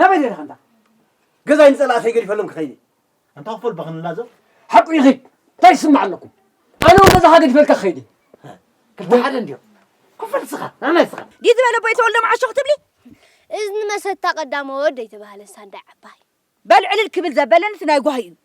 ናበይ ደለኻ እንዳ ገዛይ ንጸላእተይ ገዲፈሎም ክኸይድ ኣንታ ክፈል በኽንላዘብ ሓቁ ይኺድ እንታይ ይስማዕ ኣለኩም ኣነ እውን ገዛኻ ገዲፈልካ ክኸይድ ክልተ ሓደ እንድዮ ክፈል ስኻ ናናይ ስኻ ዲዩ ዝበለ ቦይ ተወልዶ መዓሾ ክትብሊ እዝኒ መሰታ ቀዳመ ወድ ኣይተባህለ ሳንዳይ ዓባይ በል ዕልል ክብል ዘበለን እቲ ናይ ጓሂ እዩ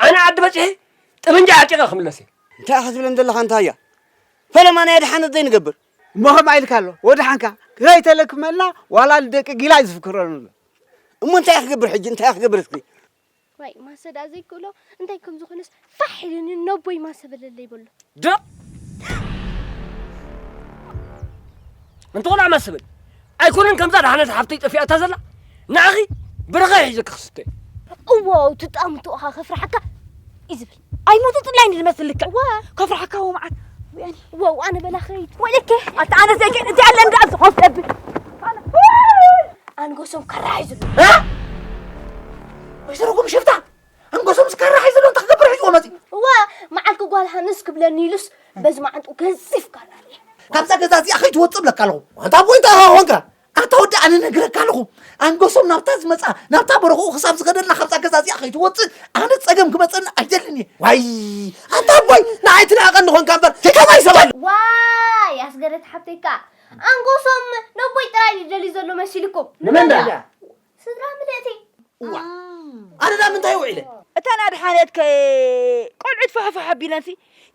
ኣነ ዓዲ በጺሐ ጠበንጃ ዓጢቐ ክምለስ እየ። እንታይ ኢኻ ትብለን ዘለኻ እንታይ እያ ፈለማ ናይ ኣድሓነት ዘይንገብር። እሞ ከምኣ ኢልካ ኣሎ ወድሓንካ ከይተለክመልና ዋላ ንደቂ ጊላ እዩ ዝፍክረሉ ኣሎ እሞ እንታይ ክገብር ሕጂ እንታይ ክገብር እስኪ ዋይ ማሰ ደኣ ዘይክእሎ እንታይ ከም ዝኾነስ ፋሕ ኢሉኒ ነቦይ ማሰ በለለይ በሎ ደቕ እንተኾነ ኣማስብል ኣይኮነን ከምዛ ድሓነት ሓፍተይ ጠፊኣታ ዘላ ንዓኺ ብርኸ ሒዘ ክኽስተ እዎ ትጣምቱ እኻ ከፍርሓካ እዩ ዝብል ኣይሞቱ ጥላይ ንድመስል ልክዕ ከፍርሓካ እዎ መዓት ወያኒ እዎ ኣነ በላኸይት ወይለከ ኣታ ኣነ ዘገ እቲ ኣለ እንዳ ዝኾፍ ደብል ኣንጎሶም ከራሒ ዝሉ ወይዘሮ ጉም ሽፍታ እንጎሶም ስካራ ሒዙ ዶ ክገብር ሒዝዎ መፂ እወ መዓልቲ ጓል ሃንስ ክብለኒ ኢሉስ በዚ መዓንጡ ገዚፍ ካራ ርየ ካብዛ ገዛ እዚኣ ከይትወፅእ ብለካ ኣለኹ ኣንታ ቦይታ ኮንካ ኣታ ወዲ ኣነ ነግረካ ኣለኹ ኣንጎሶም ናብታ ዝመፃ ናብታ በረኽኡ ክሳብ ዝኸደልና ካብዛ ገዛ እዚኣ ከይትወፅእ ኣነ ፀገም ክመፀኒ ኣይደልን እየ ዋይ ኣንታ ቦይ ንዓይ ትናቐኒ ኮንካ እምበር ከማይ ሰባለ ዋይ ኣስገደት ሓብተይ ከዓ ኣንጎሶም ነቦይ ጥራይ ደልዩ ዘሎ መሲልኩም ንመን ስድራ ምልእቲ እዋ ኣነዳ ምንታይ ውዒለ እተን ኣድሓነት ከ ቆልዑት ፋሕፋሕ ኣቢለንሲ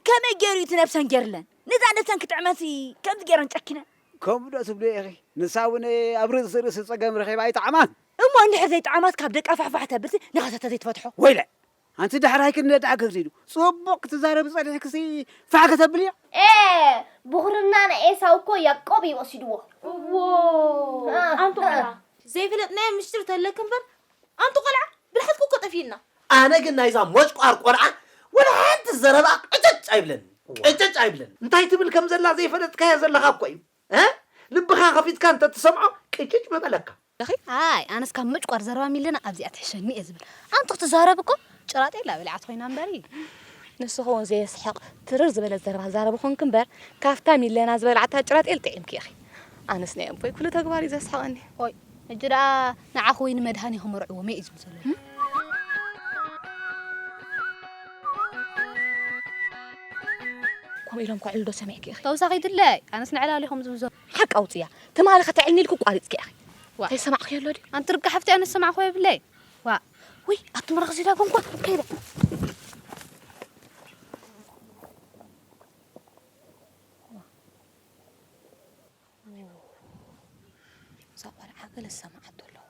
ከመይ ገይሩ እዩ እቲ ነብሰን ገይርለን ነዛ ነብሰን ክጥዕመንሲ ከምዚ ገይረን ጨኪነን ከምኡ ዶ ትብልዮ ኢኺ ንሳ እውን ኣብ ርእሲ ርእሲ ፀገም ረኺባ ኣይጠዓማን እሞ እንድሕር ዘይጠዓማስ ካብ ደቃ ፋሕፋሕ ተብልሲ ንኻሳ ተዘይትፈትሖ ወይለ ኣንቲ ዳሕራይ ክንደይ ደኣ ግርዲ ድዩ ጽቡቅ ክትዛረቢ ጸኒሕክሲ ፋሕ ከተብሊ እያ። ኤእ ብኹርና ናይ ኤሳው እኮ ያቆብ እዩ ወሲድዎ። እዎው ኣንቱ ቆልዓ። ዘይፈለጥናዮ ምስጢር ተለኪ እምበር ኣንቱ ቆልዓ ብልሓትኩ እኮ ጠፊኡና። ኣነ ግን ናይዛ ሞጭቋር ቆልዓ ወላ ሓንቲ ዘረባኣ ቅጭጭ ኣይብለንን ቅጭጭ ኣይብለንን። እንታይ ትብል ከምዘላ ዘይፈለጥካዮ ዘለኻ እኮ እዩ ልብኻ ከፊትካ እንተትሰምዖ ቅጭጭ ምበለካ። እኺ ኣይ ኣነስ ካብ ምጭቋር ዘረባ ሚለና ኣብዚኣ ትሕሸኒ እየ ዝብል ኣንቲ ክትዛረብ እኮ ጭራጤላ በሊዓት ኮይና እምበሪ ንስኺ እውን ዘየስሕቕ ትርር ዝበለ ዘረባ ትዛረቢ ኮንኪ እምበር ካብታ ሚለና ዝበልዓታ ጭራጤል ጥዒምኪ ኢኺ ኣነስ ናይ ኣቦይ ኩሉ ተግባር እዩ ዘስሕቐኒ ኦይ ሕጂ ደኣ ንዓኺ ወይ ንመድሃኒ ክመርዕዎ መይ እዩ ዝብል ዘሎ ከምኡ ኢሎም ከዕሉ ዶ ሰሚዕኪ ኢኺ ተውሳኺ ድለይ ኣነስ ንዕላል ኢኹም ዝብዞ ሓቂ ኣውፅያ ትማሊ ከተዕልኒ ኢልኩ ቋሪፅኪ ኢኺ እንታይ ዝሰማዕክዮ ኣሎ ድዩ ኣንቲ ርጋ ሓፍቲ ኣነ ዝሰማዕክዎ የብለይ ዋ ወይ ኣብቲ ምራኽ ዚዳ ጎንኳ ከይደ እዛ ቆልዓ ገለ ዝሰማዓቶ ኣለዋ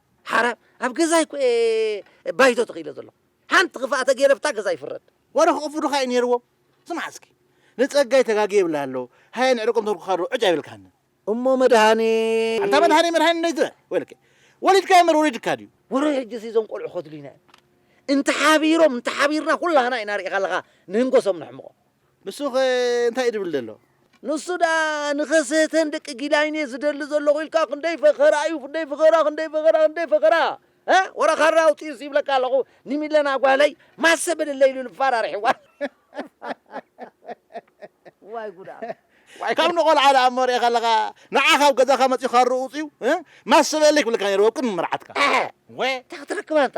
ሓራ ኣብ ገዛይ እኮ እየ ባይቶ ተኺለ ዘለኹ። ሓንቲ ክፋእ ተገይረ ብታ ገዛ ይፍረድ። ዋላ ክቕፍዱኻ እዩ ነይርዎም። ስማዕ እስኪ ንጸጋይ ተጋግየ እብላ ኣለዉ ሃየ ንዕርቆም ተርኩካ ዶ ዕጭ ኣይብልካንን። እሞ መድሃኔ። ኣንታ መድሃኔ መድሃኔ እንደይ ትበል ወይለከ ወሊድካዮ እምበር ወሊድካ ድዩ። ውረ ሕጂሲ እዞም ቆልዑ ከድልዩና እዮም እንተ ሓቢሮም እንተ ሓቢርና ኩላህና ኢና ርኢኻ ኣለኻ ንህንጎሶም ነሕምቖም። ንሱኸ እንታይ እዩ ዝብል ዘሎ? ንሱ ደኣ ንኸስሕተን ደቂ ጊላይን እየ ዝደሊ ዘለኹ ኢልካ ክንደይ ፈኸራ እዩ፣ ክንደይ ፈኸራ፣ ክንደይ ፈኸራ፣ ክንደይ ፈኸራ። እ ወረ ካራ ኣውጺኡስ ይብለካ ኣለኹ ንሚለና ጓለይ ማሰ በልለይ ኢሉ ንፋራርሕዋ። ዋይ ጉድ ኣሎ። ካብ ንቆልዓ ደኣ እሞ ርኤ ከለኻ ንዓ ካብ ገዛኻ መጺኡ ካርኡ ኣውጺኡ እ ማሰ በለለይ ክብለካ ነይሩ ኣብ ቅድሚ መርዓትካ። ኣሕ! ወ! እንታይ ክትረክብ ኣንታ።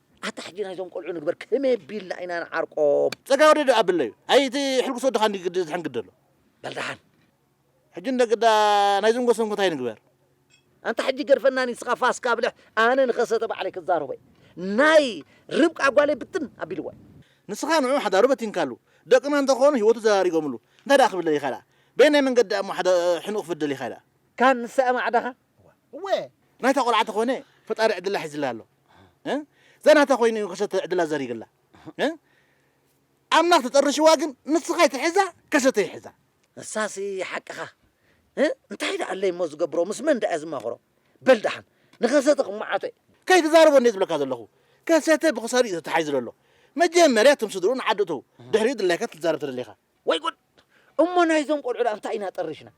ኣታ ሕጂ ናይዞም ቆልዑ ንግበር ከመይ ኣቢልና ኢና ንዓርቆም። ጸጋይ ወደ ዶ ኣብለዩ ኣይ እቲ ሕልጉስ ወድኻ እንድዩ ግዲ ዝሕንግድ ዘሎ። በል ደሓን። ሕጂ እንዶ ግዳ ናይዞም ጎሰንኩ እንታይ ንግበር። ኣንታ ሕጂ ገድፈና ኒስኻ ፋስ ካብልሕ ኣነ ንኸሰተ ባዕለይ ክዛረቦ እየ ናይ ርብቃ ጓለይ ብትን ኣቢልዋ እዩ። ንስኻ ንዑ ሓዳሩ በቲንካሉ ደቅና እንተ ኾኑ ሂወቱ ዘራሪጎምሉ እንታይ ደኣ ክብል ደሊኻ ደኣ በየናይ መንገዲ ደኣ እሞ ሓደ ሕንኡ ክፍድ ደሊኻ ደኣ። ካን ንሳ እያ ማዕዳኻ እወ ናይታ ቆልዓ ተኾነ ፈጣሪ ዕድላ ሒዝላ ኣሎ እ ዘናታ ኮይኑ እዩ ከሰተ ዕድላ ዘሪግላ እ ኣምላኽ ተጠርሽዋ ግን ንስኻ ይትሕዛ ከሰተ ይሕዛ እሳሲ ሓቅኻ እ እንታይ ደኣ ኣለይ እሞ ዝገብሮ ምስ መን ደኣ ዝማኽሮ በል ደሓን ንኸሰተ ክመዓቶ እዩ ከይትዛረቦ እንዴ ዝብለካ ዘለኹ ከሰተ ብክሳዱ እዩ ተታሓይዙ ዘሎ መጀመርያ እቶም ስድርኡ ንዓዲ እተው ድሕሪኡ ድላይካ ትዛረብ ተደሊኻ ወይ ጉድ! እሞ ናይዞም ቆልዑ ደኣ እንታይ ኢና ጠሪሽና?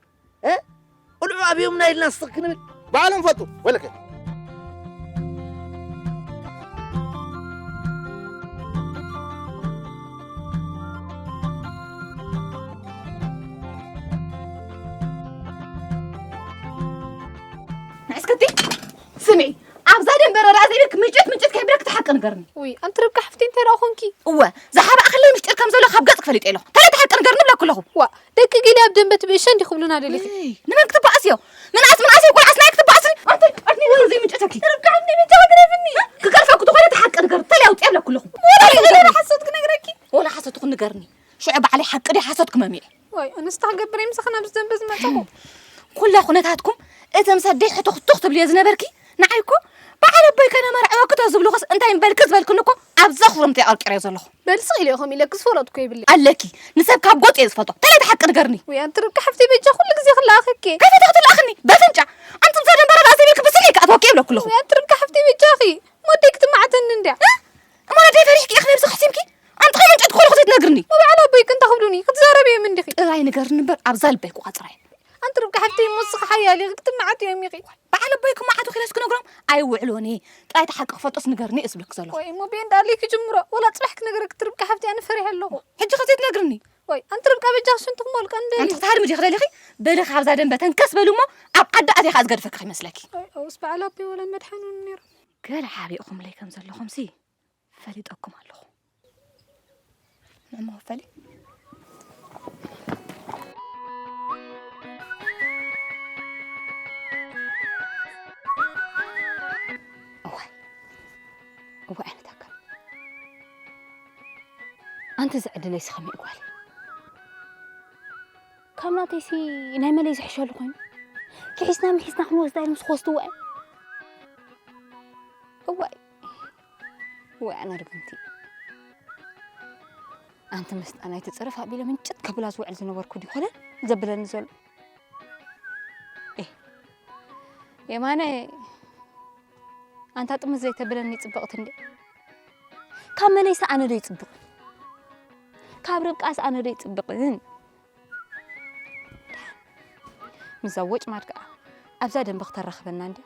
እ ቁልዑ ኣብዮምና ኢልና ስኽ ክንብል? ባዕሎም ፈቱ ወለከ። ንዕስክቲ ስምዒ ኣብዛ ደንበ ረዳ ዘይብልክ ምጭት ምጭት ከይብለክ ተሓቂ ንገርኒ ውይ ኣንቲ ርብቃ ሓፍቲ እንታይ ደኣ ኮንኪ እወ ዝሓበኣክለይ ምስጢር ከም ዘሎ ካብ ገጽ ክፈሊጠ ኣለኹ ተለ ተሓቂ ንገርኒ ብለኩ ኣለኹ ዋ ደቂ ጊሊ ኣብ ደንበ ትብእሸ እንዲ ክብሉና ደሊኺ ንመን ክትበኣስዮ ምንኣስ ምንኣሰይ ቆልዓስ ናይ ክትበኣስኒ ኣንቲ ኣርኒ ወይ ዘይምጭተኪ ርብቃ ሓፍቲ ብቻ ክትረፍኒ ክገርፈኩ ተኾነ ተሓቂ ንገርኒ ተለ ኣውጽ ብለኩ ኣለኹ ወላ ሓሶት ክነግረኪ ወላ ሓሶት ንገርኒ ሽዑ ባዕለይ ሓቂ ዲ ሓሶት ክመሚዕ ወይ እንስታ ክገብር ምሳኺ ናብዚ ዘንበ ዝመፀኹ ኩላ ኩነታትኩም እተም ሰደይ ሕትኽቱኽ ትብልዮ ዝነበርኪ ንዓይ እኮ በዓል ኣቦይ ከነ መርዕወክቶ ዝብልኹስ እንታይ እምበልኪ ዝበልክኒ እኮ ኣብ ዘኽርምቲ ኣቐርቂረዮ ዘለኹ በልሲ ኢለ ኢኹም ኢለ ክዝፈረጥኩ ይብሊ ኣለኪ ንሰብ ካብ ጎጥ እየ ዝፈልጦ ተለይ ተሓቂ ንገርኒ ወይ ኣንቲ ርብቃ ሓፍቲ በጃ ኩሉ ግዜ ክለኣኸኪ ከይፈተኽቲ ለኣኽኒ በፍንጫ ኣንቲ ምሳ ደንበረ ርእሰይ ብልኪ ብስለይ ክኣትወኪ ይብለኩ ኣለኹ ወይ ኣንቲ ርብቃ ሓፍቲ በጃኺ ሞደይ ክትመዓተኒ እንድያ እሞ ኣደይ ፈሪሕኪ ኢኺ ነብሲ ክሕሲምኪ ኣንጥኸ መንጨት ኮልኹ ዘይትነግርኒ ወበዓል ኣቦይ ቅንታ ክብሉኒ ክትዛረብ እዮም እንዲኺ ጥራይ ንገርኒ እምበር ኣብዛ ልበይ ክዋ ጥራይ ኣንቲ ርብቃ ሓፍተይ እሞ እስኺ ሓያል ኢኺ ክትመዓት እዮም ኢኺ በዓል ኣቦይ ክመዓቱ ክኢለስ ክነግሮም ኣይውዕሎን እየ ጥራይ እቲ ሓቂ ክፈልጦስ ንገርኒ እየ ዝብለኪ ዘለኹ ወይ እሞ ብኤንዳ ኣለይ ክጅምሮ ወላ ፅባሕ ክነግረኪ እቲ ርብቃ ሓፍተይ ኣነ ፈሪሐ ኣለኹ ሕጂ ከ ዘይትነግርኒ ወይ ኣንቲ ርብቃ በጃኺ ሽንቲ ክመልቀ እንደልዩ ኣንቲ ክትሃድሚ ዲኺ ደሊኺ በሊ ካብዛ ደንበ ተንከስ በሊ እሞ ኣብ ዓዲ ኣትየ ከዓ ዝገድፈኪ ከይመስለኪ ኣውስ በዓል ኣቦይ ወላ መድሓኑኒ ነይሮም ገለ ሓቢእኹምለይ ከም ዘለኹምሲ ፈሊጠኩም ኣለኹ ንእሞ ፈሊ እወ ዓይነት ኣካል ኣንቲ ዝዕድለይ ስኸመይ ጓል ካብ ናተይሲ ናይ መለይ ዝሕሸሉ ኮይኑ ክሒስና ምሒስና ክንወስዳ ኢሎም ዝኸስቱ ዋይ እዋይ ወይ ኣነ ርግምቲ ኣንቲ ምስጣ ናይ ትፅርፍ ኣቢለ ምንጭት ከብላ ዝውዕል ዝነበርኩ ድዩ ኮነ ዘብለኒ ዘሎ የማነ ኣንታ ጥምዝ ዘይተብለኒ ፅብቕቲ እንደ ካብ መለይሲ ኣነ ዶ ይፅብቕ ካብ ርብቃስ ኣነ ዶ ይፅብቕን ምስዛ ወጭማድ ከዓ ኣብዛ ደንበ ክተራኽበና እንድያ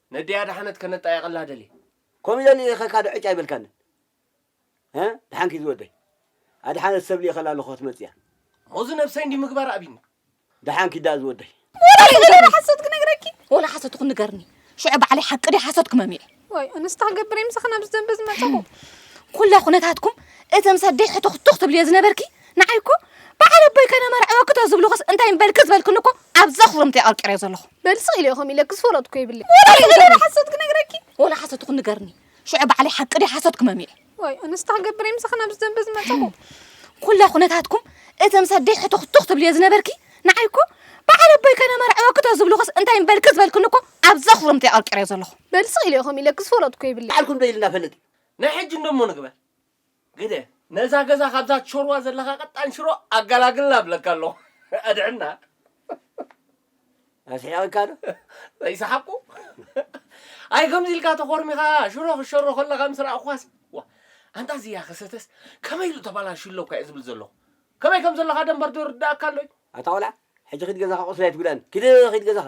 ነደይ ኣድሓነት ከነጣይቀላ ደልየ። ከምኡ ኢለ ልኢኸካ ዶ ዕጭ ኣይበልካንን? ሀ ደሓን ኪድ ዝወደይ። ኣድሓነት ሰብ ልኢኸላ ኣለኹ ክትመጽእ እያ። ሞዚ ነብሰይ እንዲህ ምግባር ኣቢኒ። ደሓን ኪድ ደኣ ዝወደይ። ወላ ይንገረኒ ሓሶት ክነግረኪ። ወላ ሓሶት ይኹን ንገርኒ። ሽዑ ባዕለይ ሓቂ ድያ ሓሶት ክመምየ። ዋይ ኣነስ እንታይ ክገብር እየ ምሳኺ ናብዚ ደንበ ዝመጸኹ። ኩላ ኩነታትኩም እተምሰደይ ሕቱኽቱኽ ትብልዮ ዝነበርኪ ንዓይ እኮ በዓል ኣቦይ ከነመርዕወኪ ዶ ዝብልኹስ እንታይ ምበልኪ ዝበልክኒ እኮ ኣብ ዘኽርምቲ የቐርቂረዮ ዘለኹ በል ስቕ ኢለ ኢኹም ኢለክስ ፈረድኩ ይብለይ ወላ ይዘለለ ሓሶት ክነግረኪ ወላ ሓሶት ይኹን ንገርኒ ሽዑ ባዕለይ ሓቂ ድዩ ሓሶት ክመሚዕ ወይ እንስታ ክገብር እየ ምሳኺ ናብዚ ዘንበ ዝመፀኹ ኩላ ኩነታትኩም እተም ሰደይ ሕቱኽቱኽ ትብልዮ ዝነበርኪ ንዓይ እኮ በዓል ኣቦይ ከነመርዕወኪ ዶ ዝብልኹስ እንታይ ምበልኪ ዝበልክኒ እኮ ኣብ ዘኽርምቲ የቐርቂረዮ ዘለኹ በል ስቕ ኢለ ኢኹም ኢለክስ ፈረድኩ ይብለይ በዓልኩም ዶ ኢልና ፈልጥ ናይ ሕጂ እንዶ እሞ ንግበር ግደ ነዛ ገዛ ካብዛ ትሾርዋ ዘለካ ቀጣን ሽሮ ኣጋላግልና ብለካ ኣለኩ ኣድሕና ኣስሒቐካ ዶ ዘይሰሓቁ ኣይ ከምዚ ኢልካ ተኾርሚኻ ሽሮ ክሸሮ ከለኻ ምስ ረኣኹኻስ ዋ ኣንታ እዚያ ከሰተስ ከመይ ኢሉ ተባላሹ ኣለኩ እየ ዝብል ዘለኹ ከመይ ከም ዘለኻ ደንበር ዶ ይርዳእካ ኣሎዩ ኣታ ቆልዓ ሕጂ ኪድ ገዛኻ ቁስሊ ኣይትጉዳኒ ኪድ ኪድ ገዛኻ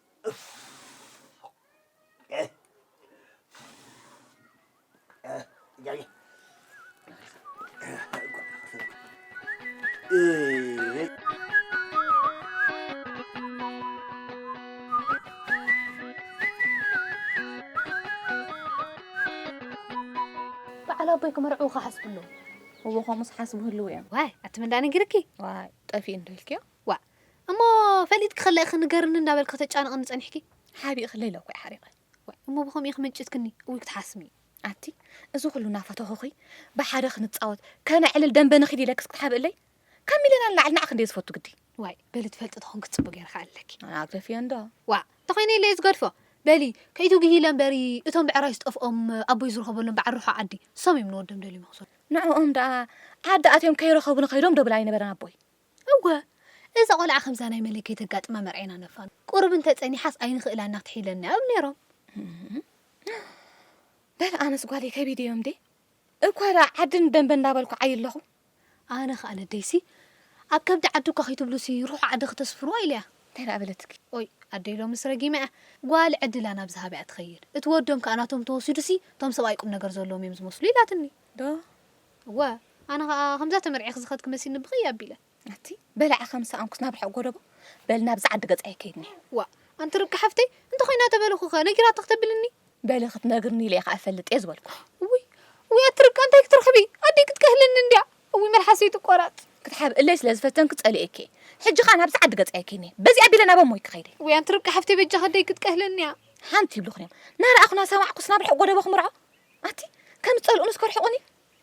በዓል ኣቦይ ክመርዕዉ ክሓስቡ ኣለዎም እዎ ከምኡስ ሓስቡ ህልው እዮም ዋይ ኣቲ ምንዳ ነጊርኪ ዋይ ጠፊኡ እንዶ ኢልክዮ ዋእ እሞ ፈሊጥኪ ከለእኪ ንገርኒ እንዳበልኪ ከተጫንቕኒ ጸኒሕኪ? ሓቢእኪ ለይለ እኮ'ዩ ሓሪቐ። ዋይ እሞ ብኸምኡ ኢኺ መንጭትክኒ እውይ ክትሓስሚ። ኣቲ እዚ ኩሉ ናፈተኹኺ ብሓደ ክንጻወት ከነዕልል ደምበ ንኺድ ኢለክስ ክትሓብእለይ? ካብ ሚለና ንላዕሊ ንዓኺ እንድየ ዝፈቱ ግዲ። ዋይ በሊ ትፈልጢ ተኾንኪ ጽቡቕ ጌረ ክኣልለኪ። ኣነ ኣግደፍዮ እንዶ። ዋእ እንተኾይነ ኢለ'የ ዝገድፎ። በሊ ከይትጉሂ ኢለ እምበሪ እቶም ብዕራይ ዝጠፍኦም ኣቦይ ዝረኸበሎም በዓል ርሑቕ ዓዲ ንሶም እዮም ንወዶም ደልዮም ይኹሰዱ። ንዕኦም ደኣ ዓዲ ኣትዮም ከይረኸቡ ንኸይዶም ዶ ብል ኣይነበረን ኣቦይ? እወ እዛ ቆልዓ ከምዛ ናይ መለይ ከይተጋጥማ መርዔና ነፋኑ ቁሩብ እንተ ጸኒሓስ ኣይንኽእላና ክትሒለናያ ይብሉ ነይሮም። በል ኣነስ ጓለይ ከቢድ እዮም ዴ እኳ ደኣ ዓድን ደንበ እንዳበልኩ ዓይ ኣለኹ። ኣነ ኸኣ ነደይሲ ኣብ ከብዲ ዓዲ እኳ ከይትብሉሲ ሩሑቕ ዓዲ ክተስፍርዋ ኢለያ። እንታይ ደኣ በለትኪ? ኦይ ኣደይ ሎምስ ረጊመያ ጓል ዕድላ ናብ ዝሃበ እያ ትኸይድ እቲ ወዶም ከኣ ናቶም ተወሲዱሲ እቶም ሰብኣይ ቁም ነገር ዘለዎም እዮም ዝመስሉ ኢላትኒ። ዶ እወ፣ ኣነ ኸኣ ኸምዛ ተመርዒኺ ዝኸድኪ መሲልኒ ብኽይ ኣቢለ። ኣቲ በላዕኻ ምስ ሰኣንኩስ ናብ ርሑቕ ጎደቦ፣ በል ናብዛ ዓዲ ገጻ ኣይከይድን'የ። ዋእ! ኣንቲ ርብቃ ሓፍተይ፣ እንተ ኾይና ተበልኹኸ፣ ነጊራቶ ክተብልኒ? በሊ ክትነግርኒ ኢለ ኢኻ እፈልጥ'የ ዝበልኩ። እውይ! እውይ! ኣቲ ርብቃ እንታይ ክትረኽቢ፣ ኣደይ ክትከህለኒ እንድያ። እውይ መልሓሰይ'ቲ ቆራጽ። ክትሓብእለይ ስለ ዝፈተንኪ ጸሊኤኪ'የ። ሕጂ ኸኣ ናብዛ ዓዲ ገጻ ኣይከይድን'የ። በዚ ኣቢለ ናብ ኣሞይ ክኸይድ'የ። እውይ! ኣንቲ ርብቃ ሓፍተይ በጃኺ ኣደይ ክትቀህለኒ'ያ። ሓንቲ ይብሉኽን'ዮም፣ ናረኣኹ ናሰማዕኩስ ናብ ርሑቕ ጎደቦ ክምርዖ? ኣቲ ከም ዝጸልኡንስ ከርሕቁኒ።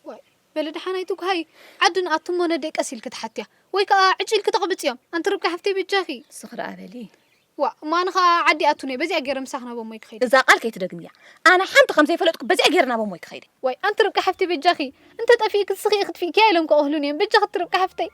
ዋይ በሊ ደሓን ኣይትጉሃዪ ዓዲ ንኣቱ እሞ ነደይ ቀስ ኢልኪ ትሓትያ ወይ ከኣ ዕጭ ኢልኪ ተቅብጽዮም ኣንቲ ርብቃ ሓፍተይ በጃኺ። ስኺ ደኣ በሊ። ዋእ እሞ ኣነ ከኣ ዓዲ ኣቱ ነይ በዚኣ ጌረ ምሳኺ ናብ ኣሞይ ክኸይድ። እዛ ቃል ከይትደግምያ ኣነ ሓንቲ ከም ዘይፈለጥኩ በዚኣ ጌረ ናብ ኣሞይ ክኸይድ። ዋይ ኣንቲ ርብቃ ሓፍተይ በጃኺ እንተ ጠፊእኪ ስኺ ኢኺ ትፊእኪያ ኢሎም ከቅህሉኒ እዮም በጃኺ እቲ ርብቃ ሓፍተይ።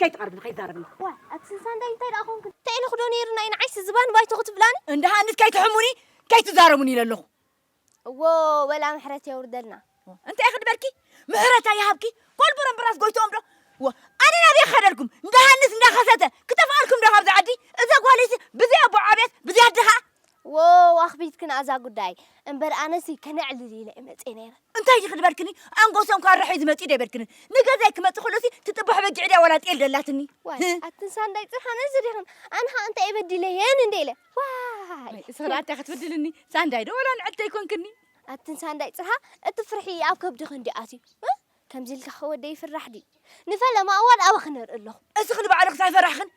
ከይትቐርብኒ ከይትዛረብኒ ዋይ ኣቲ ስንሳንዳይ እንታይ ደኣ ኮንክን። እንታይ ኢለኩ ዶ ነይሩ ናይ ንዓይሲ ዝባን ባይቶ ክትብላኒ። እንዳ ሃንስ ከይትሕሙኒ ከይትዛረቡኒ ኢለ ኣለኹ። እዎ ወላ ምሕረት የውርደልና። እንታይ ኢኺ ድበልኪ ምሕረት ኣይሃብኪ ኮል በረምብራስ ጎይትኦም ዶ እዎ ኣነ ናበይ ክኸደልኩም እንዳ ሃንስ እንዳ ከሰተ ክጠፍኣልኩም ዶ ካብዛ ዓዲ እዛ ጓለይሲ ብዘይ ኣቦ ዓብየት ብዘይ ኣደ ከኣ ዎው ኣኽቢድክና እዛ ጉዳይ እምበር ኣነሲ ከነዕልል ኢለ እየ መጽየ ነይረ። እንታይ ዲኺ ዝበልክኒ ኣንጎሶም ካራ ሒዙ መጺኡ ዶ ኣይበልክንን ንገዛይ ክመጽእ ከሎሲ ትጥባሖ በጊዕ ድያ ዋላ ጤል ደላትኒ ዋይ ህህ። ኣትን ሳንዳይ ጥርሓን እዚ ዲኽን ኣነ ኸኣ እንታይ በዲለየን እንዴ ኢለ ዋይ ወይ እሰራ ኣታ ክትብድልኒ ሳንዳይ ዶ ዋላ ንዕድተይ ኮንክኒ። ኣትን ሳንዳይ ጽርሃ እቲ ፍርሒ ኣብ ከብድኺ እንድዩ ኣትዩ እህ። ከምዚ ኢልካ ከወደይ ይፍራሕ ድዩ? ንፈለማ እዋን ኣባኺ ነርኢ ኣለኹ። እስኺ ንባዕልኽስ ኣይፈራሕኽን?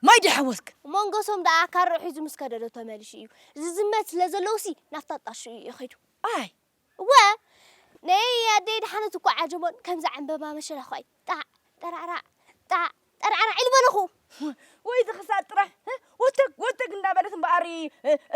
ማይ ድዩ ሓወስኪ? ሞንጎሶም ደኣ ካርዑ ሒዙ ምስ ከደ ዶ ተመሊሱ እዩ? ዝዝመት ስለ ዘለዎሲ ናብታ ጣሽኡ እዩ ከይዱ። ኣይ! እወ! ነየይ ኣደይ ደሓነት እኳ ዓጀቦን ከምዛ ዕምበባ መሸላ'ኳ እዩ። ጣዕ! ጠራዕራዕ! ጣዕ! ጠርዓራዒል በልኹ። ወይ እዚ ክሳድ ጥራይ ወተግ ወተግ እንዳበለት እምበኣር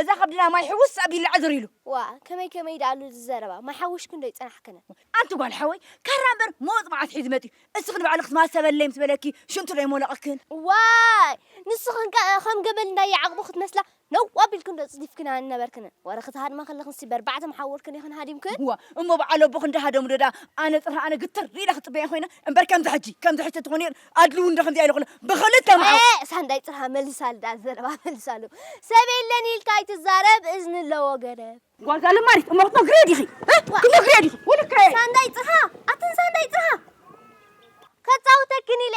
እዛ ከብድና ማይ ሕውስ ኣቢሉላ ዕዝር ኢሉ። ዋእ ከመይ ከመይ ደኣ ኣሉ እዚ ዘረባ፣ ማይ ሓዊሽክን ዶ ኣይጸናሕክንን። ኣንቲ ጓል ሓወይ ካራ እምበር መወጽ መዓት ሒዙ መጺኡ፣ እስኺ ንባዕሉ ክትማሰበለይ ምስ በለኪ ሽንቱ ዶ ኣይሞለቐክን። ዋይ ንስኽንከ ከም ገመል እንዳየዓቕቡ ክትመስላ ነውው ኣቢልክን ዶ ጽዲፍክና ንነበርክንን ወረ ክትሃድማ ከለክንሲ በርባዕተ መሓውርክን ኢክን ሃዲምክን። እዋ እሞ በዓል ኣቦ ክንዲ ሃደሙ ዶ ደኣ ኣነ ጥርሂ ኣነ ግትር ኢለ ክጽበያ ኮይነ እምበር ከምዚ ሕጂ ከምዚ ሕጂ ተትኮን ነይሩ ኣድሊ ውን ዶ ከምዚኣ ኢለ ኩለ ብክልተ መሓውር ኤእ ሳንዳይ ጥርሃ መልሳሉ ደኣ ዘረባ መልሳሉ ሰብ የለን ኢልካ ኣይትዛረብ እዝኒ ኣለዎ ገደብ። ጓል ጋል ማሪት እሞ ክትመክርዮ ዲኺ ክትመክርዮ ዲኺ ወልካየ። ሳንዳይ ጥርሃ ኣትን ሳንዳይ ጥርሃ ከጻውተክን ኢለ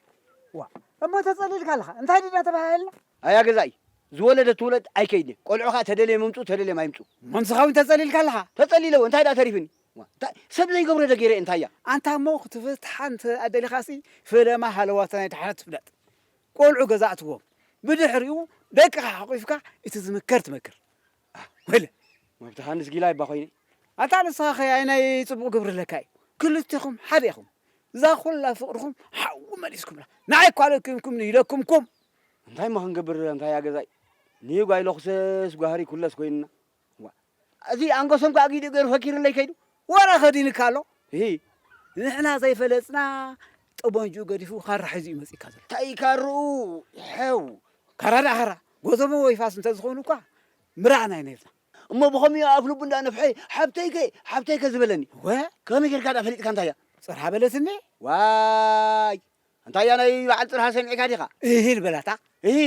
ዋእ እሞ ተጸሊልካ ኣለኻ እንታይ ድዳ ተባሃሃልና። ኣያ ገዛኢ ዝወለደት ትውለድ ኣይከይድን ቆልዑ ከኣ ተደልዮም ይምጹ ተደልዮም ኣይምጹ። መንስኻ ውን ተጸሊልካ ኣለኻ። ተጸሊለ እወ እንታይ ደኣ ተሪፍኒ ዋእ እንታይ ሰብ ዘይገብሮ ዶ ገይረ እየ እንታይ እያ። ኣንታ እሞ ክትፍትሓ እንተ ደሊኻሲ ፈለማ ሃለዋታ ናይ ደሓነት ፍለጥ ቆልዑ ገዛ ኣእትዎም ብድሕሪኡ ደቅኻ ሓቚፍካ እቲ ዝምከር ትመክር። ወይለ መብትኻ ኣንስ ጊላ ይባ ኮይነ ኣታ ንስኻ ከይ ኣይናይ ጽቡቕ ግብሪ ኣለካ እዩ ክልቴኹም ሓደ ኢኹም እዛ ኩላ ፍቕርኹም ሓዊ መሊስኩምላ ንዓይ እኳ ለኪምኩም ንኢለኩምኩም እንታይ ማ ክንገብር እንታይ እያ ገዛይ ንጓይ ለኹሰስ ጓህሪ ኩለስ ኮይንና እዚ ኣንገሶም ከዓ ጊዲ ገይሩ ፈኪርለይ ከይዱ ወረ ከዲንካ ኣሎ ንሕና ዘይፈለጥና ጠበንጅኡ ገዲፉ ካራ ሒዙ እዩ መጺእካ ዘሎ። ታይ ካርኡ ይሐው ካራ ድኣ ካራ ጎተሞ ወይ ፋስ እንተዝኾኑ እኳ ምረኣና ኢና ኢልና። እሞ ብኸምዩ ኣፍልቡ እንዳ ነፍሐ ሓብተይከ ሓብተይከ ዝበለኒ እወ ከመይ ጌርካ ድኣ ፈሊጥካ እንታይ እያ ጽርሃ በለትኒ ዋይ እንታይ እያ ናይ በዓል ጽርሃ ሰሚዕካ ዲኻ እሂል በላታ እሂ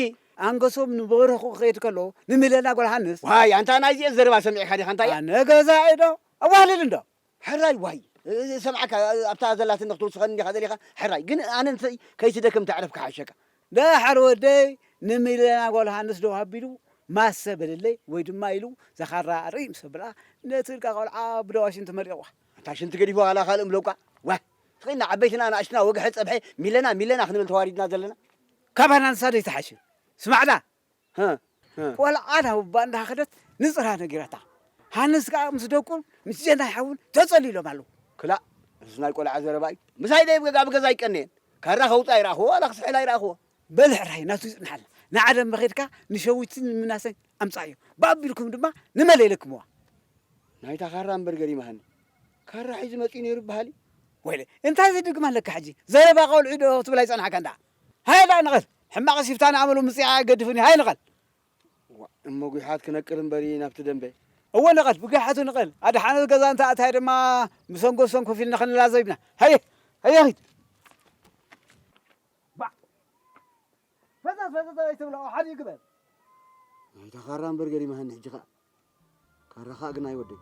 ኣንገሶም ንበረኹ ክኸይድ ከሎ ንሚለና ጓል ሃንስ ዋይ ኣንታ ናይዚኤን ዘረባ ሰሚዕካ ዲኻ እንታይ እያ ኣነ ገዛኢ ዶ ኣዋህልል እንዶ ሕራይ ዋይ ዝሰምዓካ ኣብታ ዘላትኒ ክትውስኸኒ ዲኻ ደሊኻ ሕራይ ግን ኣነ ንሰይ ከይትደክም ተዕረፍ ክሓሸካ። ደሓር ወደይ ንሚለና ጓል ሃንስ ደው ኣቢሉ ማሰ በለለይ ወይ ድማ ኢሉ ዘኻራ ኣርእይ ምስ ኣብላ ነቲ እልካ ቆልዓ ብደዋ ሽንቲ መሊቕዋ። ኣንታ ሽንቲ ገዲፍዋ ዋላ ካልእ ምለቋ ዋይ ስኺና ዓበይትና ኣናእሽትና ወግሐ ጸብሐ ሚለና ሚለና ክንብል ተዋሪድና ዘለና ካባና ንሳ ዶ ኣይትሓሽን ስማዕላ ቆልዓ ናብ ኣቦኣ እንዳኸደት ንጽራ ነጊራታ። ሃንስ ከኣ ምስ ደቁን ምስ ጀናይ ሓዉን ተጸልዩ ኢሎም ኣለዉ። ክላእ እዚ ናይ ቆልዓ ዘረባ እዩ። ምሳይ ደይ ኣብ ገዛ ኣይቀነየን። ካራ ከውጽእ ኣይረኣኹዎ ዋላ ክስሕል ኣይረኣኹዎ። በል ሕራይ ናቱ ይጽንሓልና ንዓደ'ምበ ኬድካ ንሸዊትን ንምናሰን ኣምጽኣዮም ብኣቢልኩም ድማ ንመል የለክምዋ። ናይታ ካራ እምበር ገሪማሃኒ ካራ ሒዙ መጺኡ ኔሩ ይበሃል እዩ። ወይለይ እንታይ ዘድግም ኣለካ ሕጂ ዘረባ ቆልዑ ዶ ክትብል ኣይጸናሕካን ደኣ። ሃየ ደኣ ንቐል! ሕማቕስ ይፍታን ኣመሉ ምጽያቕ ኣይገድፍን እዩ፣ ሃየ ንቐል! ዋእ እሞ ጒሓት ክነቅል እምበሪ ናብቲ ደምበ። እወ ንቐል! ብጒሓቱ ንቐል! ኣድሓነት ገዛ እንተ ኣእታዮ ድማ ብሰንጎ ሰም ኮፍ ኢልና ክንላዘብ ኢና፣ ሃየ! ሃየ ኺድ! ባእ! ፈዘዝ ፈዘዝ ኣይትብሎ፣ ሓዲኡ ግበር! ኣንታ ኻራ እምበር ገሪማሃኒ ሕጂ ኸኣ። ካራኻ ግን ኣይወደይ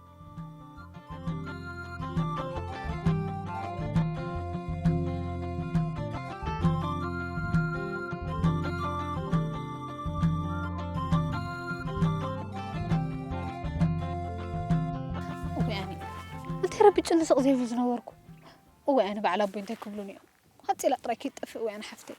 ረቢ ጭንስቕ ዘይብሉ ዝነበርኩ እወ ኣነ በዓል ኣቦይ እንታይ ክብሉን እዮም ሃፂላ ጥራይ ከይትጠፍእ እወ ኣነ ሓፍተይ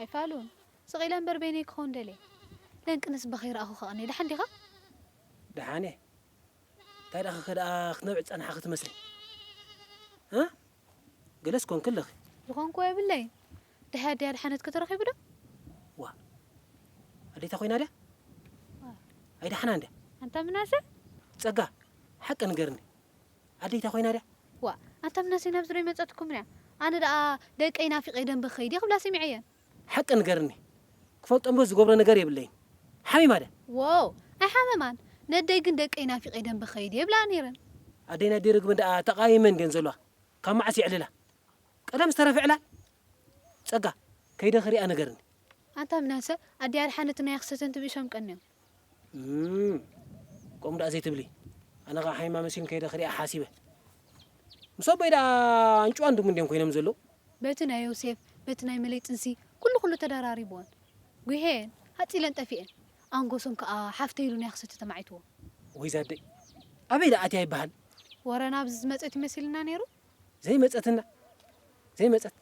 ኣይፋሉን ስቅ ኢለ እምበር በይነይ ክከውን ደልየ ለንቅንስ በክይ ረኣኩ ከቅንየ ደሓን ዲካ። ደሓን እየ እንታይ ደኣ ከከ ደኣ ክትነብዒ ዝጸናሕኺ ትመስሊ እ ገለስ ኮንኪ ኣለኺ። ዝኮንክዎ የብለይን ደሐ ኣደይ ኣድሓነትኪ ተረኪቡ ዶ። ዋእ ኣዴታ ኮይና ድያ ኣይደሓናን ድያ። ኣንታ ምናሰ። ጸጋ ሓቂ ንገርኒ። ኣደይታ ኮይና ድያ? ዋእ ኣታ ምናሴ ናብዚ ዶ ኣይመጸትኩምን እያ ኣነ ደኣ ደቀይ ናፊቀ ደንበ ክከይድ እየ ክብላ ሰሚዐየን። ሓቂ ንገርኒ ክፈልጦም ዶ ዝገብሮ ነገር የብለይን ሓሚማ ድያ? ዎው ኣይሓመማን ነደይ ግን ደቀይ ናፊቀ ደንበ ክከይድ እየ ይብላኣ ነይረን። ኣደይን ኣደይ ርግብን ደኣ ተቃይመን ድየን ዘለዋ ካብ መዓስ የዕልላ ቀደም ዝተረፈ ዕላል ጸጋ ከይደ ክሪኣ ንገርኒ። ኣንታ ምናሰ ኣደይ ኣድሓነት ናይ ኣክሰተን ትብእሶም ቀንዮም። ከምኡ ደኣ ዘይትብሊ ኣነ ከኣ ሓይማ መሲሉኒ ከይደ ክሪኣ ሓሲበ ምስ ኣቦይ ደኣ ኣንጭዋን ድሙን ድዮም ኮይኖም ዘለዉ። በቲ ናይ ዮሴፍ በቲ ናይ መለይ ጥንሲ ኩሉ ኩሉ ተደራሪቡወን ጒሂየን ኣጺለን ጠፊኤን ኣንጎሶም ከኣ ሓፍተይ ኢሉ ናይ ክሰቲ ተማዒቱዎ። ወይ'ዛ ኣደይ ኣበይ ደኣ ኣትያ ይበሃል። ወረ ናብዚ ዝመጸት እዩ መሲሉና ነይሩ። ዘይመጸትና ዘይመጸት።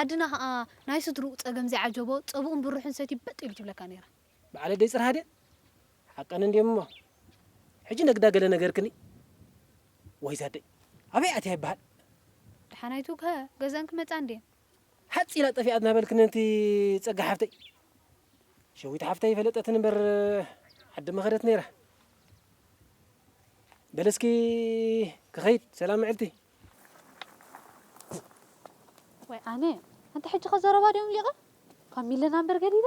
ዓድና ከኣ ናይ ስድርኡ ጸገም ዘይዓጀቦ ጸብኡን ብርሑን ሰትዩ በጥ ኢሉ ትብለካ ነይራ። በዓለ ደይ ጽርሃ ድየ ሓቀን እንድዮም እሞ ሕጂ ነግዳ ገለ ነገርክኒ ወይ ዛደይ ኣበይ ኣትያ ይበሃል ደሓናይቱ ከ ገዘን ክመጻ እንድየን። ሓጽ ኢላ ጠፊኣት ናበልክኒ ነቲ ጸጋ ሓፍተይ ሸዊት ሓፍተይ ፈለጠትን እምበር ዓዲ መኸደት ነይራ በለስኪ ክኸይድ ሰላም ምዕልቲ ወይ ኣነ ኣንተ ሕጂ ከ ዘረባ ድዮም ሊቐ ካብ ሚለና እምበር ገዲዳ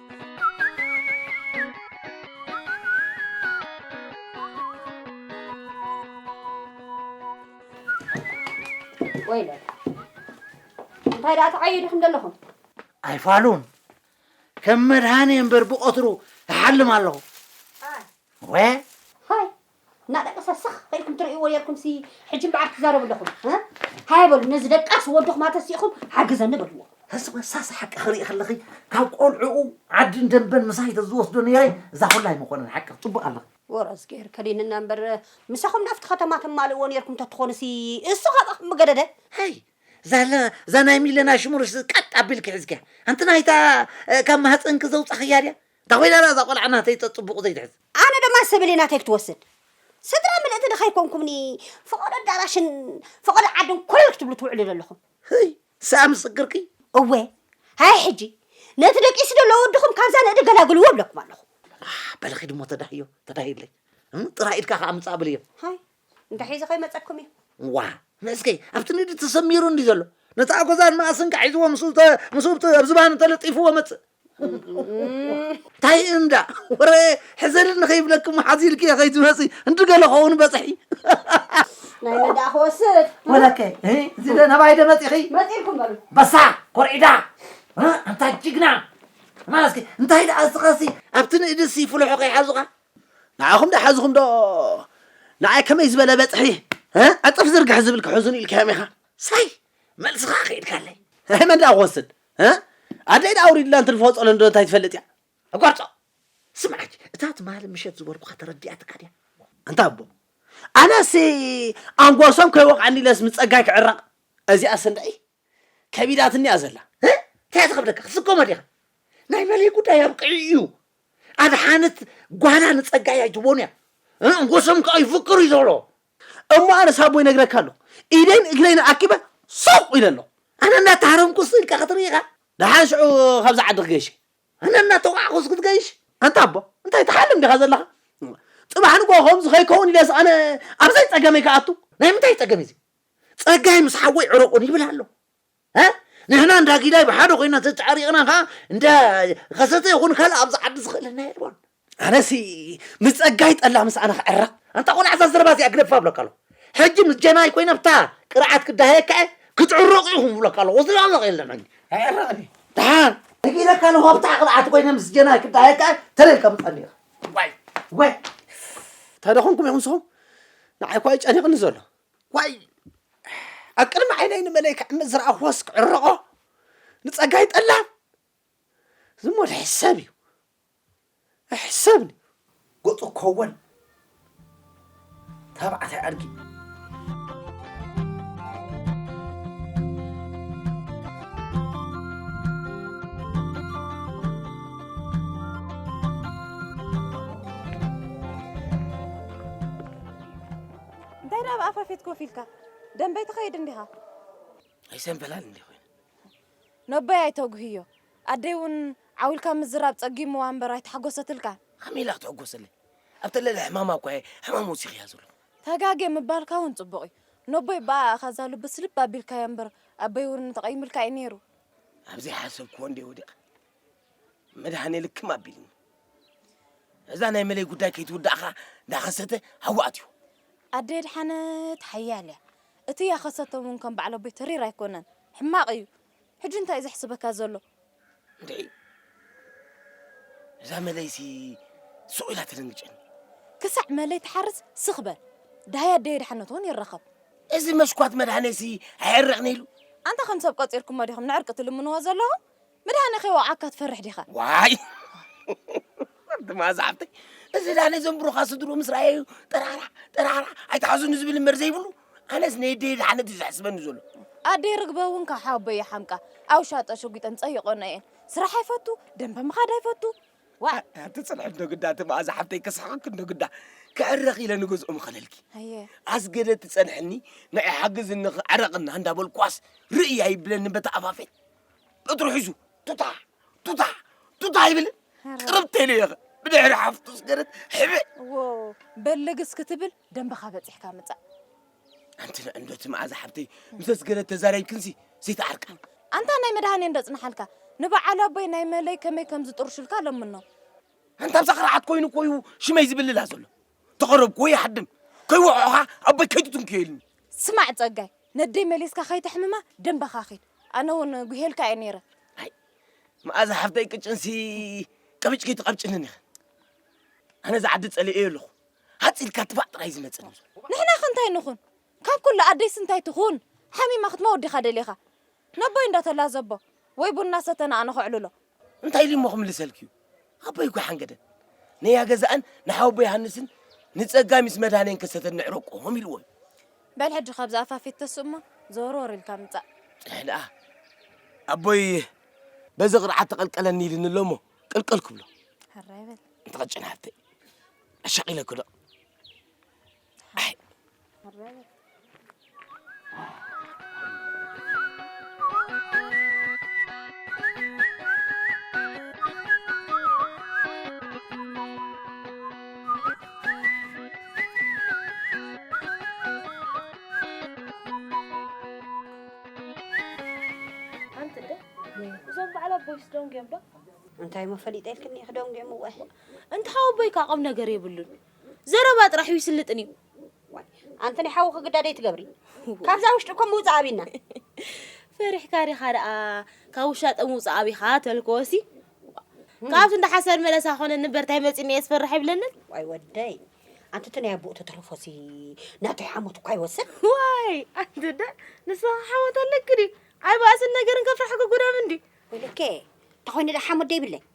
ወይለ እንታይ ደኣ ተዓየዱ ከም ዘለኹም ኣይፋሉን ከም መድሃኒ እምበር ብቐትሩ እሓልም ኣለኹ ወ ሃይ እና ደቅሰ ስኽ ከኢልኩም ትርእይዎ ኔርኩም ሲ ሕጂ እምበኣር ትዛረቡ ኣለኹም ሃየ በሉ ነዚ ደቃስ ወድኹም ኣተሲእኹም ሓግዘኒ በልዎ ህስብ ህሳስ ሓቂ ክርኢ ከለኺ ካብ ቆልዑኡ ዓድን ደንበን ምሳይ ተዝወስዶ ነይረ እዛ ኩላ ኣይምኾነን ሓቂ ክትፅብቕ ኣለኺ ወረዝ ገይር ከዲንና እምበር ምሳኹም ናብቲ ከተማ ተማልእዎ ነርኩም ተትኾንሲ እሱ ካባኹም ምገደደ ሀይ ዛለ ዛናይ ሚለና ሽሙርስ ቀጥ ኣቢልኪ ሒዝኪያ ኣንቲ ናይታ ካብ ማህፀንኪ ዘውፃኽያ ድያ እንታ ኮይና ድኣ እዛ ቆልዓ ናተይ ጸጽቡቑ ዘይትሕዝ። ኣነ ድማ ሰብለይ ናተይ ክትወስድ። ስድራ ምልእቲ ዶ ከይኮንኩምኒ ፈቐዶ ኣዳራሽን ፈቐዶ ዓድን ኮለል ክትብሉ ትውዕሉ ዘለኹም። ህይ ሰኣን ምስክርኪ። እወ ሃየ ሕጂ ነቲ ደቂሱ ዘሎ ወድኹም ካብዛ ንእዲ ገላግልዎ እብለኩም ኣለኹ። ኣሕ በሊ ኪድሞ ተዳህዮ ተዳህዩለይ እም ጥራይ ኢድካ ከኣ ምጻእ ብልዮ። ሃይ እንታይ ሒዙ ከይመጸኩም እዩ? እዋ ንእስኪ ኣብቲ ንድዲ ተሰሚሩ እንዲ ዘሎ ነቲ ኣጎዛን መኣስን ካሒዝዎ ምስኡ ተ- ምስኡ ብቲ- ኣብ ዝባኑ ተለጢፍዎ መጽእ እንታይ እንዳ ወረ ሕዘኒ ንኸይብለኪ እሞ ሓዚ ኢልኪ ከይትመጺ እንዲ ገለ ኸውን በጽሒ ናይ መዳእ ክወስድ ወለከ እህ፣ እዚ ደ ናባይ ደ መጺኺ መጺእኩም በሉ በሳ ኮርዒዳ እ፣ ኣንታ ጅግና እና እስኪ እንታይ ደኣ እስኻሲ ኣብቲ ንእድሲ ፍልሖ ከይሓዙኻ ንዓኹም ዶ ሓዝኹም ዶ ንዓይ ከመይ ዝበለ በጽሒ ዕጽፍ ዝርግሐ ዝብል ክሕዙን ኢልካዮም ኢኻ ሳይ መልስኻ ከይድካለይ ናይ መን ደኣ ክወስድ ኣደይ ደኣ ኣውሪድላ እንትንፍሆ ጸሎን ዶ እንታይ ትፈልጥ እያ ኣቋርጾ ስምዓጅ እታ ትማሊ ምሸት ዝበልኩኻ ተረዲኣትካ ድያ እንታ ኣቦ ኣነሲ ኣንጎሶም ከይወቕዐኒ ኢለስ ምስ ጸጋይ ክዕረቕ እዚኣ ስንደይ ከቢዳትኒ እያ ዘላ። እንታይ እያ ትኸብደካ ክትስከሞ ዲኻ ናይ መለይ ጉዳይ ኣብቂዑ እዩ ኣድሓነት ጓና ንፀጋይ ኣይትቦን እያ እ፣ ጎሶም ከዓ ይፍቅሩ እዩ ዘሎ እሞ ኣነ ሳቦ ይነግረካ ኣለኹ ኢደይን እግረይን ኣኪበ ሱቕ ኢለ ኣለኹ ኣነ እናተሃረምኩስ ኢልካ ክትርኢ ኢኻ ደሓን ሽዑ ካብዚ ዓዲ ክገይሸ ኣነ እናተውዓኹስ ክትገይሽ ኣንታ ኣቦ እንታይ ትሓልም ዲኻ ዘለኻ ፅባሕ ንጎ ከምዚ ከይከውን ኢለስ ኣነ ኣብዘይ ፀገመይ ክኣቱ ናይ ምንታይ ፀገም እዩ እዚ ጸጋይ ምስ ሓወይ ዕረቁን ይብል ኣሎ እ ንሕና እንዳ ጊዳይ ብሓደ ኮይና ተጫሪቕና ከዓ እንዳ ከሰተ ይኹን ካልእ ኣብዚ ዓዲ ዝኽእለና የልቦን ኣነሲ ምስ ጸጋይ ጠላ ምስ ኣነ ክዕረቕ ኣንታ ቆልዓ እዛ ዘረባ እዚኣ ግደፋ ኣብለካ ኣለኹ ሕጂ ምስ ጀናይ ኮይነ ብታ ቅርዓት ክዳሃየካ እየ ክትዕረቑ ኢኹም ብለካ ኣለኹ ወስዶ ኣለኽ የለን ሕጂ ኣይዕረቕን እዩ ደሓን ነጊረካ ኣለኹ ኣብ ብታ ቅርዓት ኮይነ ምስ ጀናይ ክዳሃየካ እየ ተለልካ ምጻኒ ኢኻ ዋይ ዋይ እንታይ ደኾንኩም ኢኹም ንስኹም ንዓይ እኳ እዩ ጨኒቕኒ ዘሎ ዋይ ኣብ ቅድሚ ዓይነይ ንመለይ ክዕምት ዝረኣኹዎስ ክዕረቖ ንጸጋይ ጠላም ዝሞ ሕሰብ እዩ ሕሰብኒ ገጹ ኮወል ተባዕታይ ኣድጊ እንታይ ደኣ ብኣፋ ፌት ኮፍ ኢልካ ደንበይ ትኸይድ እንዲኻ ኣይሰንበላል እንዲ ኮይኑ ነቦይ ኣይተጉህዮ ኣደይ እውን ዓዊልካ ምዝራብ ጸጊምዋ እምበር ኣይተሓጎሰትልካ ከመይ ኢላ ክትሕጎሰለይ ኣብ ተለለ ሕማማ እኳ እየ ሕማም ወሲኽያ ዘሎ ተጋጌ ምባልካ እውን ጽቡቕ እዩ ነቦይ በኣ እኻ እዛ ልብስ ልብ ኣቢልካዮ እምበር ኣበይ እውን ተቐይምልካ እዩ ነይሩ ኣብዘይ ሓሰብክዎ እንደ ወዲቐ መድሃኔ ልክም ኣቢልኒ እዛ ናይ መለይ ጉዳይ ከይትውዳእ ኸዓ እንዳኸሰተ ሃዋ ኣትዩ ኣደ የድሓነት ሓያል እያ እቲ ያኸሰተ እውን ከም ባዕሎ ቤት ተሪር ኣይኮነን ሕማቕ እዩ ሕጂ እንታይ እዩ ዘሕስበካ ዘሎ እንድዒ እዛ መለይሲ ሱቕ ኢላ ተደንግጨኒ ክሳዕ መለይ ትሓርስ ስኽ በል ዳሃይ ኣደ የድሓነት እውን ይረኸብ እዚ መሽኳት መድሃኔሲ ኣየዕርቕኒ ኢሉ ኣንታ ከም ሰብ ቆፂርኩሞ ዲኹም ንዕርቂ ትልምንዎ ዘለኹም ምድሃነ ከይወዓካ ትፈርሕ ዲኻ? ዋይ ድማ ዝሓፍተይ እዚ ዳነ ዘንብሩኻ ስድሩ ምስ ረኣየዩ ጠራራ ጠራራ ኣይትሓዝኑ ዝብል እምበር ዘይብሉ ኣነስ ነየደየ ድሓነት እዩ ዘሕስበኒ ዘሎ ኣደይ ርግበ እውን ካብ ሓወቦይ ይሓምቃ ኣብ ሻጦ ሸጒጠን ጸይቆኖ እየን ስራሕ ኣይፈቱ ደንበ ምኻድ ኣይፈቱ ዋ ኣቲ ጽንሕ እንዶ ግዳ እቲ መኣዛ ሓፍተይ ክስሕቅክ እንዶ ግዳ ክዕረኽ ኢለ ንገዝኦ ምኸለልኪ ኣየ ኣስገደ ትጸንሐኒ ንዒ ሓግዝኒ ክዕረቕና እንዳበልኳስ ርእይ ኣይብለኒ በቲ ኣፋፈይ እትሩ ሒዙ ቱታ ቱታ ቱታ ይብል ቅርብ ተይሉ የኸ ብድሕሪ ሓፍቱ ስገረት ሕብዕ በልግስ ክትብል ደንበኻ በፂሕካ ምፃእ ኣንቲ ንዕንዶቲ መዓዛ ሓብተይ ምስ ስገረት ተዛሪብክንሲ ዘይተዓርቃ ኣንታ ናይ መድሃኔ እንደፅናሓልካ ንበዓል ኣቦይ ናይ መለይ ከመይ ከም ዝጥርሹልካ ለምኖ ኣንታ ብዛ ክርዓት ኮይኑ ኮዩ ሽመይ ዝብልላ ዘሎ ተቐረብኩ ወይ ይሓድም ከይወቕዑኻ ኣቦይ ከይትትንክዮ ኢልኒ። ስማዕ ጸጋይ፣ ነደይ መሊስካ ከይተሕምማ ደምበኻ ኪድ፣ ኣነ ውን ጒሂየልካ እየ ነይረ። ኣይ መኣዛ ሓፍተይ ቅጭንሲ ቀብጭ ከይትቐብጭንን ኢኺ። ኣነ እዛ ዓዲ ጸሊኤዮ ኣለኹ። ሃጽ ኢልካ ትፋእ ጥራይ እዩ ዝመጸኒ ዘሎ። ንሕናኸ እንታይ ንኹን? ካብ ኩሉ ኣደይሲ እንታይ ትኹን? ሓሚማ ክትመውት ዲኻ ደሊኻ? ነቦይ እንዳተላዘቦ ወይ ቡን እናሰተና ኣነ ከዕልሎ፣ እንታይ ኢሊሞ ክምልሰልኪዩ ኣቦይ እኳ ሓንገደን ነያ ገዛእን ንሓወቦ ዮሃንስን ንጸጋይ ምስ መድሃኔን ከሰተን ንዕረቆም ኢልዎ እዩ በል ሕጂ ካብዚ ኣፋፊት ተስእ እሞ ዘወርወር ኢልካ ምጻእ ጽንሕ ደኣ ኣቦይ በዚ ቅርዓት ተቐልቀለኒ ኢልኒ ኣሎ እሞ ቅልቅል ክብሎ ሕራይ በል እንተቐጭን ሃብተይ ኣሻቒለ ክደቕ እዞም በዓል ኣቦይስ ደንጉዮም ዶ እንታይ እሞ ፈሊጠ ኢልክኒ ክደንጉዮም እወ እንተ ካብ ኣቦይካ ቁም ነገር የብሉን ዘረባ ጥራሕ ዩ ስልጥን ዩ። ዋይ ኣንቲ ናይ ሓዊ ክግዳድ ኣይትገብሪ ካብዛ ውሽጢ እኮ ምውጻእ ኣብና። ፈሪሕካ ዲኻ ደኣ ካብ ውሻጠ ምውጻእ ኣቢኻ ተልኮሲ ካብቲ እንዳ ሓሰር መለሳ ኮነ ንበር ታይ መጺኒ እየ ዝፈርሕ ኣይብለንን። ዋይ ወደይ ኣንቲ እቲ ናይ ኣቦኡ ተተልፎሲ ናተይ ሓሞት እኳ ይወስድ። ዋይ ኣንቲ እንዳ ንስኻ ሓሞት ኣለኪ ድዩ? ኣይ ባእስን ነገርን ከፍርሓ ክጉዳም እንድዩ። ወይለከ ተኾይነ ደኣ ሓሞት ደይብለይ።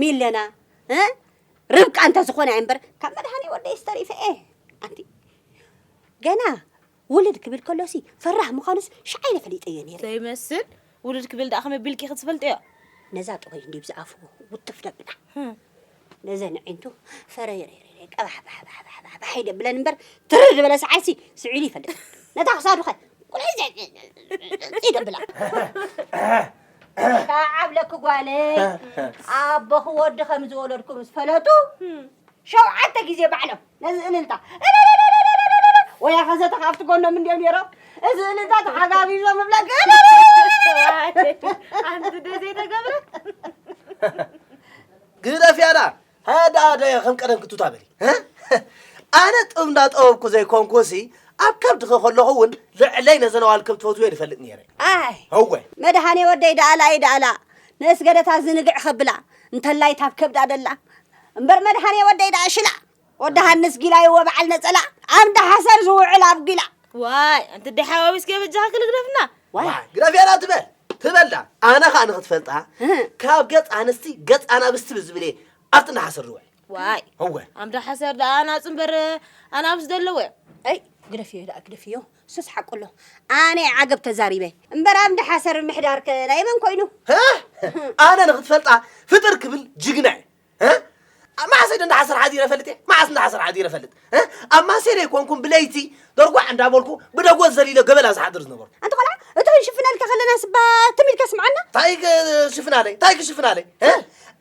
ሚለና ርብቃ እንተዝኾነ እምበር ካብ መድሃኒ ወደይስ ተሪፈ እየ ኣንቲ ገና ውልድ ክብል ከሎሲ ፈራህ ምዃኑስ ሸዓይ ፈሊጠዮ ነይረ ዘይመስል ውልድ ክብል ደኣ ከመይ ቢልኪ ክትፈልጥዮ ነዛ ጥወይ እንዲብ ዝኣፉ ውጥፍ ደብላ ነዘን ዕንቱ ፈረይረይረ ቀባሕባሕባሕባሕ ይደብለን እምበር ትርር ዝበለ ሰዓይሲ ስዒሉ ይፈልጥ ነታ ክሳዱ ኸ ቁልዒ ይደብላ ተዓብለኪ ጓለይ ኣቦኺ ወዲ ከም ዝወለድኩ ምስ ፈለጡ ሸውዓተ ግዜ ባዕሎም ነዚ እልልታ ወያ ከዘተ ካብቲ ጎኖም እንዲዮም ነይሮም እዚ እልልታ ተሓጋጊዞ ምብለክ ኣንቲ ደዘይተገብረ ግደፍ ያዳ ሃያ ደኣ ደያ ከም ቀደም ክቱታ በሊ ኣነ ጥብ እንዳጠበብኩ ዘይኮንኩሲ ኣብ ከብድኺ ከለኹ እውን ልዕለይ ነዘን ኣዋልከም ትፈትውዮ ይፈልጥ ነይረ ኣይ እወ መድሃኔ ወደይ ደኣላ እይ ደኣላ ንእስገደታ ዝንግዕ ከብላ እንተላይ ታብ ከብዳ ደላ እምበር መድሃኔ ወደይ ደኣ ሽላ ወዲ ሃንስ ጊላ ይወ በዓል ነፀላ ኣንዳ ሓሰር ዝውዕል ኣብ ጊላ ዋይ ኣንቲ ደሓዋዊስ ገበጃኻ ክልግደፍና ዋይ ግደፍየላ ትበል ትበል ድኣ ኣነ ከዓ ንክትፈልጣ ካብ ገፅ ኣንስቲ ገፅ ኣናብስቲ ብዝብል እየ ኣብቲ እንዳሓሰር ዝውዕል ዋይ እወ ኣምዳ ሓሰር ድኣ ኣናፅ እምበር ኣናብስ ዘለዎ እየ ኣይ ግደፍዮ ድኣ ግደፍዮ እሱስ ሓቁ ኣሎ ኣነ እየ ዓገብ ተዛሪበ እምበር ኣምዳ ሓሰር ምሕዳር ከ ናይ መን ኮይኑ ኣነ ንክትፈልጣ ፍጥር ክብል ጅግና እየ መዓስ ኢደ እንዳሓሰር ሓዲረ ፈልጥ እየ መዓስ እንዳሓሰር ሓዲረ ፈልጥ ኣብ ማሴረ ይኮንኩም ብለይቲ ደርጓዕ እንዳበልኩ ብደጎት ዘሊለ ገበላ ዝሓድር ዝነበርኩ ኣንተ ቆልዓ እቲ ክንሽፍነልካ ከለና ስባ ትም ኢልካ ስምዓና እንታይ ክሽፍናለይ እንታይ ክሽፍናለይ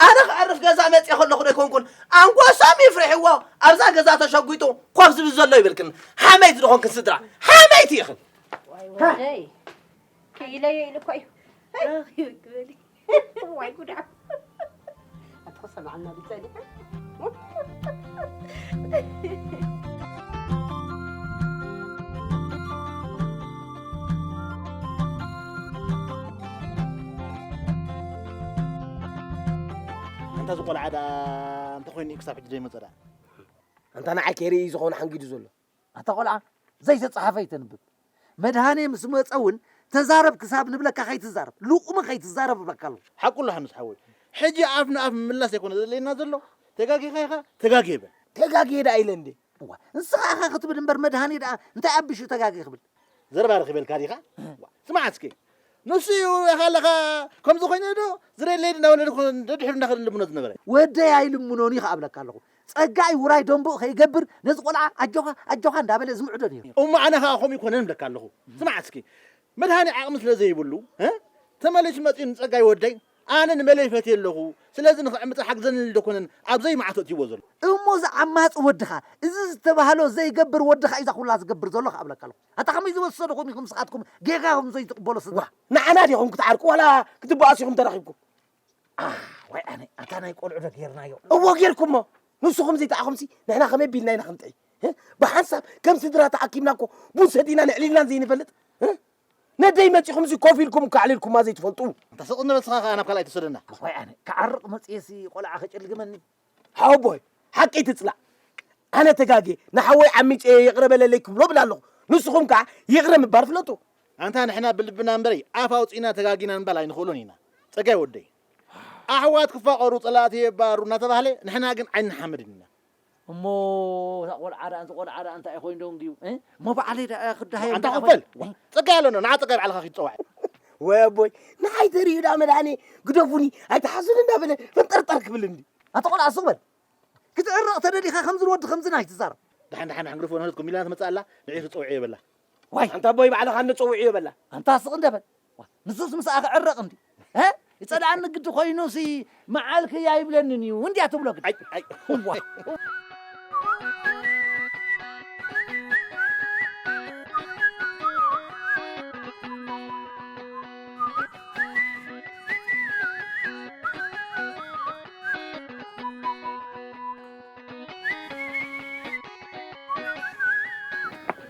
ኣነ ክዕርፍ ገዛ መፅአ ከለኹ ዶ ይኮንኩን ኣንጎሶም ይፍርሕዎ ኣብዛ ገዛ ተሸጒጡ ኮፍ ዝብል ዘሎ ይብልክን ሓመይቲ ዝኾንክን ስድራ ሓመይቲ ኢኽን ክኢለዮ ኢሉ እኮ እዩ ዋይ ጉዳ ኣተኸሰማዕና ብፀኒ እንተ ዝቆልዓ ደኣ እንተኮይኑ እዩ ክሳብ ሕጂ ዘይመፀ ደኣ እንተ ንዓይ ከይርኢ እዩ ዝኾነ ሓንጊዱ ዘሎ ኣታ ቆልዓ ዘይተጻሓፈ ኣይተንብብ መድሃኔ ምስ መጸ ውን ተዛረብ ክሳብ ንብለካ ከይትዛረብ ሉቁሚ ከይትዛረብ እብለካ ኣለኩ። ሓቁ ኣሎ ሓምስ ሓወይ ሕጂ ኣፍ ንኣፍ ምምላስ ኣይኮነ ዘድልየና ዘሎ ተጋጊካ ኢካ ተጋግየ በል። ተጋግየ ደኣ ኢለ እንዴ እዋ ንስኻ ኢኻ ክትብል እምበር መድሃኔ ደኣ እንታይ ኣቢሹ ተጋግየ ክብል። ዘረባ ረኪበልካ ዲካ እዋ ስማዕ እስኪ ንሱ ኢዩ ኢካ ኣለካ ከምዚ ኮይነ ዶ ዝደለየኒ እንዳወለድኩ ደድሕሩ እንዳከደ ልምኖ ዝነበረ። ወደይ ኣይልምኖን ኢዩ ከኣ እብለካ ኣለኩ ጸጋ'ዩ ውራይ ደምብኡ ከይገብር ነዚ ቆልዓ ኣጆኻ ኣጆኻ እንዳበለ ዝምዕዶ ኔሩ። እሞ ኣነ ከኣ ከምኡ ኣይኮነን እብለካ ኣለኹ። ስማዕ እስኪ መድሃኔ ዓቕሚ ስለ ዘይብሉ ተመሊሱ መጺኡ ንጸጋይ ወደይ ኣነ ንመለይ ፈትየ ኣለኹ ስለዚ ንኽዕምጻ ሓግዘኒ ኢሉ ዶኮነን ኣብ ዘይምዓቱ ኣእትይዎ ዘሎ። እሞ እዚ ዓማጺ ወድኻ እዚ ዝተባህሎ ዘይገብር ወድኻ'ዩ እዛ ኩላ ዝገብር ዘሎ ከኣ እብለካ ኣለኹ። ኣታ ከመይ ዝወሰድኹም ኢኹም ንስኻትኩም ጌጋ ኢኹም ዘይትቕበሉ ስድራ። ንዓና ዲኹም ክትዓርቁ ዋላ ክትበኣሱ ኢኹም ተረኺብኩም። ዋይ ኣነ ኣታ ናይ ቆልዑ ዶ ጌርናዮ እዎ ጌርኩሞ ንስኹም ዘይተኣኹምሲ ንሕና ከመይ ቢልና ኢና ክንጥዒ ብሓንሳብ ከም ስድራ ተኣኪብና እኮ ቡን ሰቲና ንዕሊልናን ዘይንፈልጥ ነደይ መፂኹም እዚ ኮፍ ኢልኩም እኮ ኣዕሊልኩማ ዘይትፈልጡ እንተ ስቕ እንበል ስኻ ከዓ ናብ ካልኣይ ትወስደና ዋይ ኣነ ክዓርቕ መፅየሲ ቆልዓ ከጨልግመኒ ሓወቦይ ሓቂ ትጽላእ ኣነ ተጋጌ ንሓወይ ዓሚጸ እየ ይቕረ በለለይ ክብሎ እብል ኣለኹ ንስኹም ከኣ ይቕረ ምባል ፍለጡ። ኣንታ ንሕና ብልብና እምበሪ ኣፍ ኣውጺእና ተጋጊና ምባል ኣይንኽእሎን ኢና ጸጋይ ወደይ። ኣሕዋት ክፋቐሩ ጸላእቲ የባሩ እናተባህለ ንሕና ግን ኣይንሓመድን ኢና። እሞ እታ ቆልዓ ደኣ እዚ ቆልዓ ደኣ እንታይ ኮይኑ ደንጉዩ? እሞ ባዕለይ ደኣ ክደሃዮም ኣንታ ደኣ ኮበል ጓ ጸጋይ ኣሎ ንዓ ጸጋይ ባዕልኻ ኪድ ጸዋዕ ወይ ኣቦይ ንዓይ ተርእዩ ደኣ መድሃኔ ግደፉኒ ኣይትሓዙኒ እንዳበለ ፈንጠርጠር ክብል እንዲ ኣቲ ቆልዓ ሱቕ በል ክትዕረቕ ተደሊኻ ከምዚ ንወዲ ከምዝን ኣይትዛረብ ድሓን ድሓን ድሓን ግደፍዎ ንህለት ኮሚላና ትመጽእ ኣላ ንዒኺ ጸውዕዮ በላ ዋይ ኣንታ ኣቦይ ባዕልኻ እንደ ጸውዕዮ በላ ኣንታ ስቕ እንደ በል ንሱስ ምስኣ ክዕረቕ እንድዩ እ ይጸልኣኒ ግዲ ኮይኑሲ መዓል ክይ ኣይብለንን እዩ እንድያ ትብሎ ግዲ ኣይ ኣይ እዋ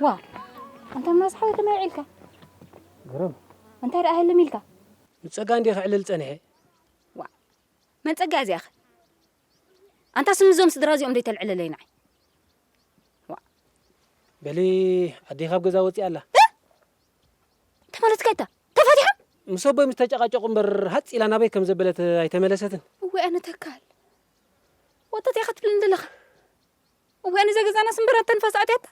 ዋ ኣንታ ምናስ ሓወይ ከመይ ውዒልካ ግርም! እንታይ ደኣ ህልም ኢልካ? ንጸጋ እንድየ ከዕልል ጸኒሐ። ዋእ! መን ጸጋ እያ እዚኣኸ? ኣንታስ ንዞም ስድራ እዚኦም ዶ ይተልዕለለይ ንዓይ? ዋእ! በሊ ኣደይ ካብ ገዛ ወጺኣ ኣላ። እ! እንታይ ማለትካ እታ? ተፋቲሓ? ምስ ኣቦይ ምስ ተጨቓጨቑ እምበር ሃጽ ኢላ ናበይ ከም ዘበለት ኣይተመለሰትን። እዋይ ኣነ ተካል! ወጠጥ ኢኻ ትብለኒ ዘለኻ። እዋይ ነዛ ገዛና ስምብራት ተንፋስ ኣትያታ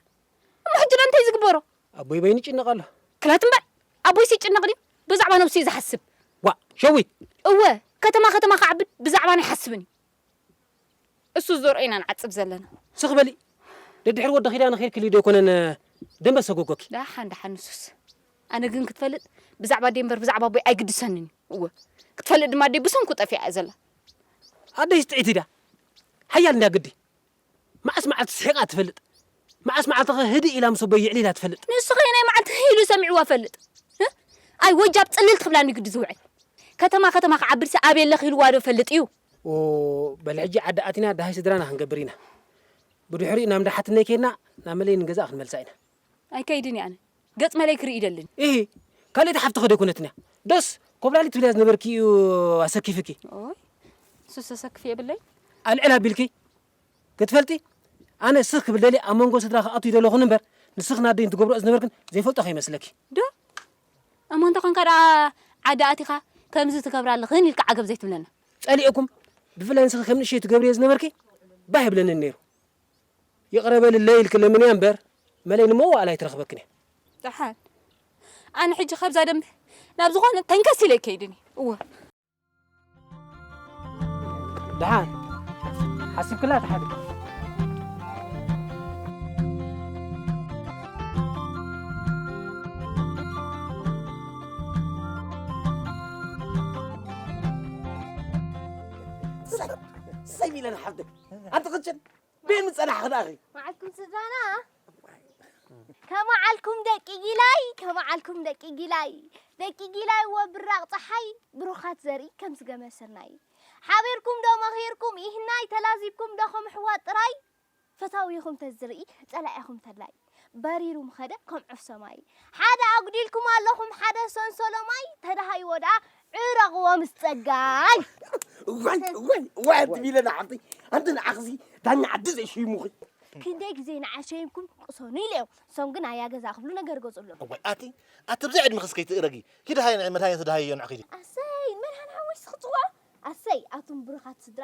እሞ ሕጂ ዳኣ እንታይ እዩ ዝግበሮ። ኣቦይ በይኑ ይጭነቅ ኣሎ። ክላ ትም በል ኣቦይስ ይጭነቅ ድዩ ብዛዕባ ነብሱ እዩ ዝሓስብ። ዋእ ሸዊት። እወ ከተማ ከተማ ክዓብድ ብዛዕባና ኣይሓስብን እዩ እሱ ዝዘርኦ ኢና ንዓጽድ ዘለና። ስኽ በሊ ደድሕሪ ወዲ ኪዳነ ኪድክሊ ዶ ኣይኮነን ደንበ ሰጎጎኪ። ዳሓን ዳሓን ንሱስ ኣነ ግን ክትፈልጥ ብዛዕባ ኣደይ እምበር ብዛዕባ ኣቦይ ኣይግድሰንን እዩ እወ ክትፈልጥ ድማ ኣደይ ብሰንኩ ጠፊኣ እያ ዘላ። ኣደይስ ጥዒቲ ድያ ሓያል እንድያ ግዲ መዓስ መዓልቲ ስሒቓ ትፈልጥ? መዓስ መዓልቲኸ ህድእ ኢላ ምስ ኣቦይ የዕሊላ ትፈልጥ? ንሱኸ የናይ መዓልቲ ህህ ኢሉ ሰሚዕዋ እፈልጥ? ህህ ኣይ ወጃብ ጽልል ትብላኒ ግዲ ዝውዕል። ከተማ ከተማ ክዓብድሲ ኣበይ ኣለኺ ኢልዋዶ ይፈልጥ እዩ? ኦው በል ሕጂ ዓዲ ኣቲና ደሃይ ስድራና ክንገብር ኢና። ብድሕሪኡ ናብ እንዳ ሓትነይ ኬድና ናብ መለይ ንገዛኣ ክንመልሳ ኢና። ኣይከይድን እየ ኣነ ገጽ መለይ ክርኢ ይደልን። ኢሂ ካልእቲ ሓፍትኺ ዶ ኣይኮነትን'ያ ዶስ ኮብላሊት ትብልያ ዝነበርኪ እዩ ኣሰኪፍኪ። ኦይ እሱስ ዘሰክፍ የብለይን። ኣልዕል ኣቢልኪ ክትፈልጢ ኣነ ስኽ ክብል ደልየ ኣብ መንጎ ስድራ ክኣቱ ይደለኹን እምበር ንስኽን ኣደይን ትገብርኦ ዝነበርክን ዘይፈልጦ ከይመስለኪ። ዶ እሞ እንተ ኮንካ ደኣ ዓዲ ኣቲኻ ከምዚ ትገብራ ኣለኽን ኢልካ ዓገብ ዘይትብለና። ጸሊኤኩም ብፍላይ ንስኺ ከም ንእሸተይ ትገብርዮ ዝነበርኪ ባህ ኣይብለንን ኔሩ። ይቕረ በልለይ ኢልኪ ለምንያ እምበር መለይ ንመዋእላ ኣይትረኽበክን እያ። ደሓን ኣነ ሕጂ ካብዛ ደንበ ናብ ዝኾነ ተንከስ ኢለ ኣይከይድን እየ። እወ። ደሓን ሓሲብክላ ተሓድጊ። ሰይ ሚለና ሓፍተይ ኣቲ ቅጭን በይ ምጸናሕኺ ደኣኺ መዓልኩም ስድራና ከመዓልኩም ደቂ ጊላይ ከመዓልኩም ደቂ ጊላይ ደቂ ጊላይ ወ ብራቕ ፀሓይ ብሩኻት ዘርኢ ከም ዝገመ ስርናይ ሓቢርኩም ዶ መኺርኩም ይህናይ ተላዚብኩም ዶ ከም ኣሕዋት ጥራይ ፈታዊኹም ተዝርኢ ጸላኢኹም ተላይ በሪሩ ምኸደ ከም ዑፍ ሰማይ። ሓደ ኣጉዲልኩም ኣለኹም ሓደ ሰንሰሎ ማይ ተዳሃይዎ ደኣ ዕረቕዎ ምስ ጸጋይ። እዋይ እዋይ እዋይ ኣንትም ኢለ ንዓኺ ኣንቲ ንዓኺሲ ዳኛ ዓዲ ዘይሸይሙኺ። ክንደይ ግዜ ንዓይ ሸይምኩም ቅሰኑ ኢለዮም እሶም ግን ኣያ ገዛ ክብሉ ነገር ገጹ ኣሎ። እዋይ ኣቲ ኣቲ ብዘይ ዕድመኺስ ከይትእረጊ ኪዲ ሃየ ንዒ መድሃኔ ተዳሃይዮ ንዓኺ ኪዲ። ኣሰይ መድሃን ሓወይሲ ክጽዋዕ ኣሰይ ኣቱም ብሩኻት ስድራ።